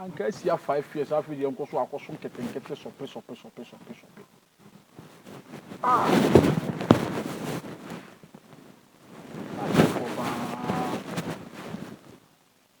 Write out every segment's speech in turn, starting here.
anka asia five years afei deɛ nkɔ so akɔso nketenkete sɔpe sɔpe sɔpe sɔpe sɔpe ah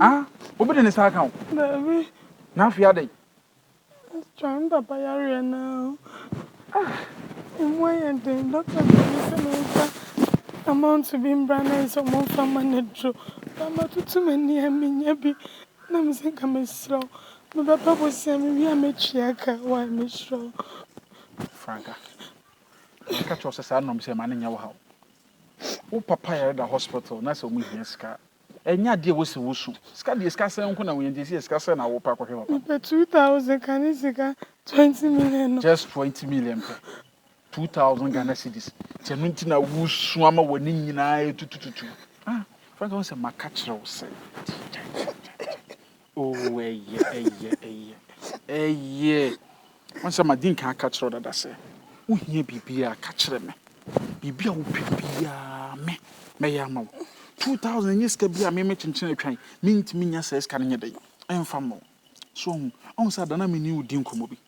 Ah, obi de ne nsa aka wo? Daabi. Na afei adɛn? Astra, me papa yareɛ no a, ɛmu ayɛ den. Dɔkta de me sɛ memfa amount bi mbra na ayɛ sɛ wɔmfa mma no aduro. Ba matutu m'ani a mennya bi. Na me sɛ nka mesrɛ wo, mebɛba bosea mewie a mɛtua ka. Wai, mesrɛ wo. Franka, meka kyerɛ wo sɛ saa nnɔm sɛ mma no nyɛ wo haw. Wo papa yare da hospital na sɛ wɔhia sika a, Ɛnyɛ adeɛ a ɛwɔ sɛ wosu. Sika deɛ sika sɛn nko na wohia nti ɛsɛ yɛ sika sɛn na wopɛ akɔhwɛ papa. Mepɛ two thousand ka ne sika twenty million no. Just twenty million pɛ. Two thousand Ghana cedis. Nti ɛno nti na wosu ama w'ani nyinaa ɛtutututu. Ah Frank wohu sɛ maka kyerɛ wo sɛ. Kyɛ kyɛ kyɛ kyɛ. Oh, ɛyɛ, ɛyɛ, ɛyɛ, ɛyɛ. Wɔn sɛ ma di nkan aka kyerɛ dada sɛ, wohia biribiara ka kyerɛ me. Biribi a wopɛ biara me, mɛyɛ ama wo. 2000 nyɛ sika bi a me me kyenkyen atwan. Mentumi nya saa sika no nyɛ dɛn ɛmfa ma wo. So wɔn, wɔn sɛ ada no a me ne wo di nkɔmmɔ bi.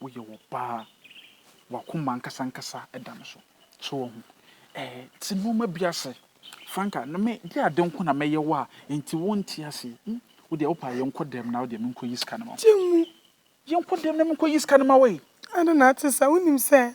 woyɛ ɔbaa, w'akoma ankasa ankasa da no so. So wɔn ɛɛ te nneɛma bi ase. Franka, na me de ade nko na mɛyɛ wo a, nti wonte ase. Hmm, wo deɛ wopɛ a yɛnkɔ dɛm na wo deɛ menkɔyi sika no ma wo. Gye mu. Yɛnkɔ dɛm na menkɔyi sika no ma wo e. Ade na ate saa. Wonim sɛ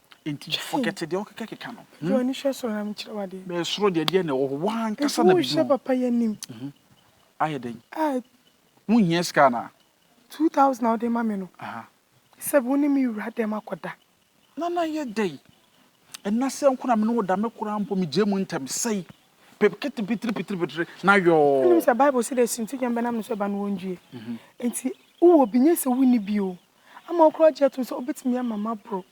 Enti forget deɛ wokeka keka no. Gye w'ani hwɛ soro na menkyerɛ wo adeɛ. Bɛɛ soro deɛ deɛ na ɛwɔ hɔ w'ankasa na biribi wɔ. Nti wohyɛ papa yi anim. Ayɛ dɛn? Wonhia sika anaa? Two thousand a wode ma me no. Sɛ wo ne me wura dɛm akɔda. Nana ayɛ dɛn? Ɛna sɛ nko na me ne wo da me koraa mpo megyae mu ntɛm sɛi. Pepkete pitiri pitiri pitiri na yɔɔ. Wonim sɛ Bible se deɛ sintidwam bɛnam ne so ba no wɔndue. Enti wowɔ bi nyɛ sɛ wonni bi o. ama ɔkura gye tom sɛ obetumi ama maboro.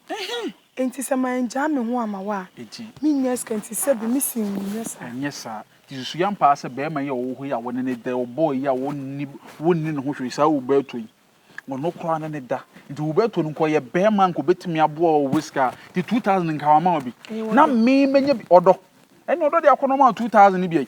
Enti sɛ mangyaa me ho amma wo a, minnya sika nti sɛbe mise wo nyɛ saa. Ɛnyɛ saa. Nti susuw ampa ara sɛ barima yi a ɔwɔ hɔ yi a wɔne no da yi, ɔbɔɔ yi a wonni ne ho hwee, saa Uberto yi, ɔno koraa ne no da. Nti Uberto no nka ɔyɛ barima a nka obetumi aboa wo wɔ sika a, nti 2000 no nka wama wo bi. Na me manya bi. Ɔdɔ. Ɛnna ɔdɔ deɛ akɔnnɔ maa wo 2000 no bi ai.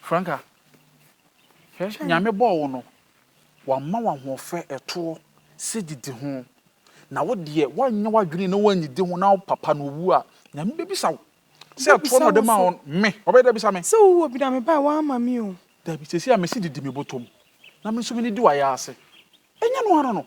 Franca, hwɛ, Nyame bɔɔ wo no, wama wo ahoɔfɛ, ɛtoɔ, sɛ didi ho, na wo deɛ woanyɛ w'adwene na woannidi ho na wo papa no ɔwu a, Nyame bɛbisa wo, sɛ ɛtoɔ na ɔde maa wo no, me, ɔbɛyɛ dɛ abisa me. Sɛ wo wɔ bi na mebae a, woamma me o. Dabi, seesei a mese didi me bɔtɔ mu, na me nso menidi w'ayaase, ɛnyɛ ɛno ara no?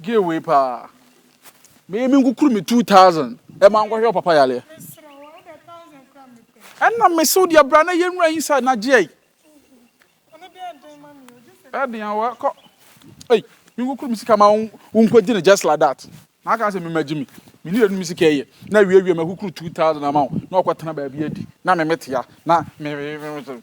Gay wei paa. Me me nkukuru me 2000 ɛma e nkɔhwɛ papa yareɛ. Ɛna me so deɛ bra na yɛ nwura inside na gyeɛ. Ɛden awa kɔ. Ei, me nkukuru me sika ma wo nkɔgye no just like that. Na aka sɛ me ma gye me. Me ne yɛnu me sika ɛyɛ. Na wie wie ma kukuru 2000 ama wo. Na ɔkɔ tena baabi adi. Na me metea. Na me me me.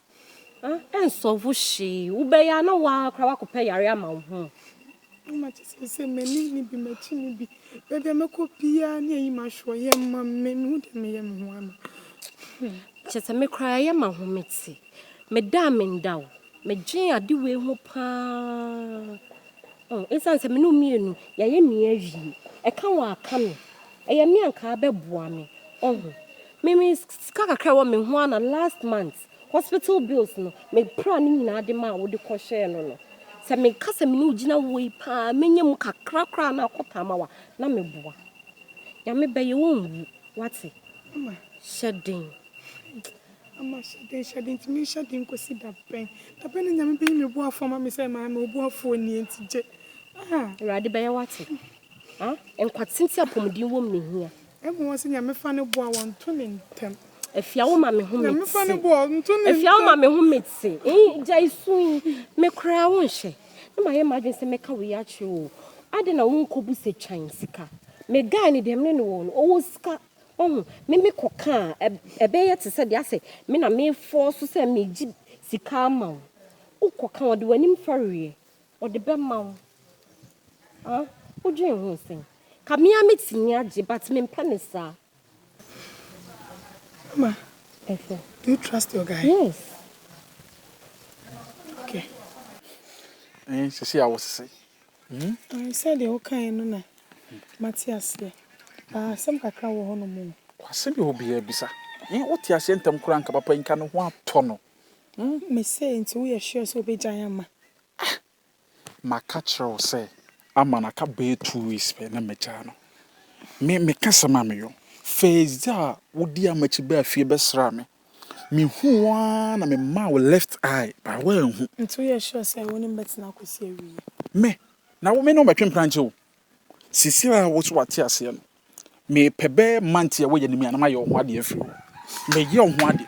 Ɛnsɔlvo hwee. Wobɛyɛ a na wo ara koraa woakɔpɛ yare ama wo ho. Mama kyɛ sɛ sɛ m'anim ne bi m'akyi ne bi. Baabi a mɛkɔ biara ne ayi m'ahweɔyɛ ma me. Mehu deɛ meyɛ me ho ama. Kyɛ sɛ me koraa yɛ ma ho mete. Meda a menda o. Medwen ade wei ho paa. Ɛsiane sɛ me ne wo mmienu yɛayɛ me awie. Ɛka wo a ka me. Ɛyɛ me a nka abɛboa me. Ɔho. Me me sika kakra a ɛwɔ me ho ara na last month hospital bills no me pra ne nyinaa de maa wo de kɔ hyɛɛ no no. Sɛ me ka sɛ me ne wo gyina wɔ yi paa menya mu kakra koraa na akɔ taama wa na me boa. Nyame bɛyɛ wo nwu wate. Mama. Hyɛ den. Mama hyɛ den hyɛ den ntumi hyɛ den kɔsi da bɛn. Da bɛn na nyame bɛyi me boafoɔ ama me sɛ maame wo boafoɔ nie nti gye. Ah. Awurade bɛyɛ wate. Ah, nkwatenten apɔmuden wɔ mu na ehia. Ɛma wɔn sɛ Nyame fa no boa wɔn nto ne ntɛm. Afia wo ma me ho mete. Nyame fa no boa wɔn nto ne ntɛm. Afia wo ma me ho mete. Eyi gya isu yi me koraa wo nhyɛ. Na ma yɛ m'adwene sɛ mɛka wo yi akyerɛ o. Adɛn na wo nkɔ bu sɛ twan sika. Me guy no deɛ me ne no wɔ no ɔwɔ sika. Wahu me me kɔ ka a ɛbɛ yɛ te sɛ deɛ asɛ me na me fɔɔ so sɛ me gye sika ama wo. Wo kɔ ka ɔde w'anim fɛreɛ. Ɔde bɛma wo ah wodwen ho sɛn. Ka me ara mɛtumi agye but mempɛ no saa. Mama, do you trust your guy? Yes. Okay. Ɛn sisi a wosese. Ɛn sɛdeɛ wokaeɛ no na mate aseɛ but asɛm kakra wɔ hɔnom o. Kwase bi hɔ biara bisa. Ɛn wote aseɛ ntɛm koraa nka papa yi nka ne ho atɔ no. Mese nti woyɛ sure sɛ wobɛgyae ama. Ah! Maka kyerɛ wo sɛ ama no aka bɛyɛ two weeks pɛ na magyaa no. Me, meka asɛm a meyɔ. First day a wodii amakyi baa fie bɛsraa me, mehuu wo ara na memaa wo left eye, but woanhu. Nti woyɛ sure sɛ wo ne me bɛtena akɔsi awiei? Me? Na wo, me ne wo mmɛtwe mprankyɛ o. Seesei a wo nso woate aseɛ no, mepɛ bɛyɛ month yi a woyɛ no mu a na mayɛ wo ho adeɛ afiri hɔ. Mɛyɛ wo ho adeɛ.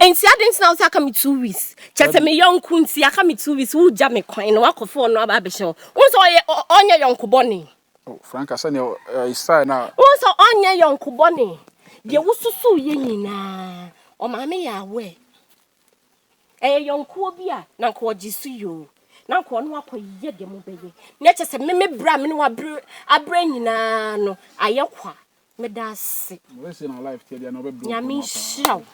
Enti adɛn nti na wosɛ aka me two weeks? Kyɛ sɛ me yɔnko nti aka me two weeks wogya me kwan na wakɔfo ɔno aba abɛhyɛ wo. Wohu sɛ ɔyɛ ɔnyɛ yɔnko bɔne. Oh, Franca sɛnea style na. Wohu sɛ ɔnyɛ yɔnko bɔne. Deɛ wosusuw yɛ nyinaa ɔmaame yɛ awɛ. Ɛyɛ yɔnkoɔ bi a na nka ɔgye so yoo. Na nka ɔno akɔyɛ deɛ mobɛyɛ. Na kyɛ sɛ me me berɛ a me ne wabrɛ abrɛ nyinaa no ayɛ kwa. meda ase nyame nhyira wo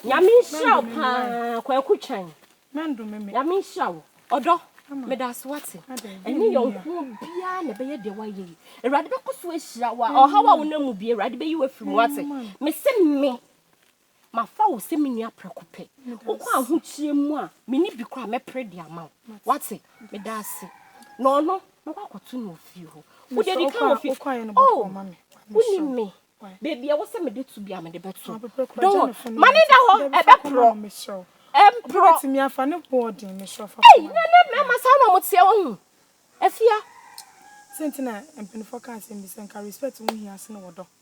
nyame nhyira wo paa kwaku twan nyame nhyira wo ɔdɔ meda ase wate ɛne yɔnkoɔ biara na ɛbɛyɛ deɛ woayɛ yi awurade bɛkɔ so ahyira wo a ɔhaw a wonam mu bie awurade bɛyi wo afiri mu wate mese me Mafa wo sɛ me nua prɛko pɛ. Wokɔ ahokyerɛ mu a, me nni bi koraa a, mɛpere de ama wo. Woate? Meda ase. Na ɔno, mɛkɔ akɔto no wɔ fie hɔ. Wode adi kan wɔ fie. Oh, wonim me. Baabi a ɛwɔ sɛ mede to biara, mede bɛto. Don't worry. Ma no nna hɔ, ɛbɛporɔ. Ɛmporɔ. Ei, na ɛnnɛ mmarima saa na wɔteɛ, woahu. Afia.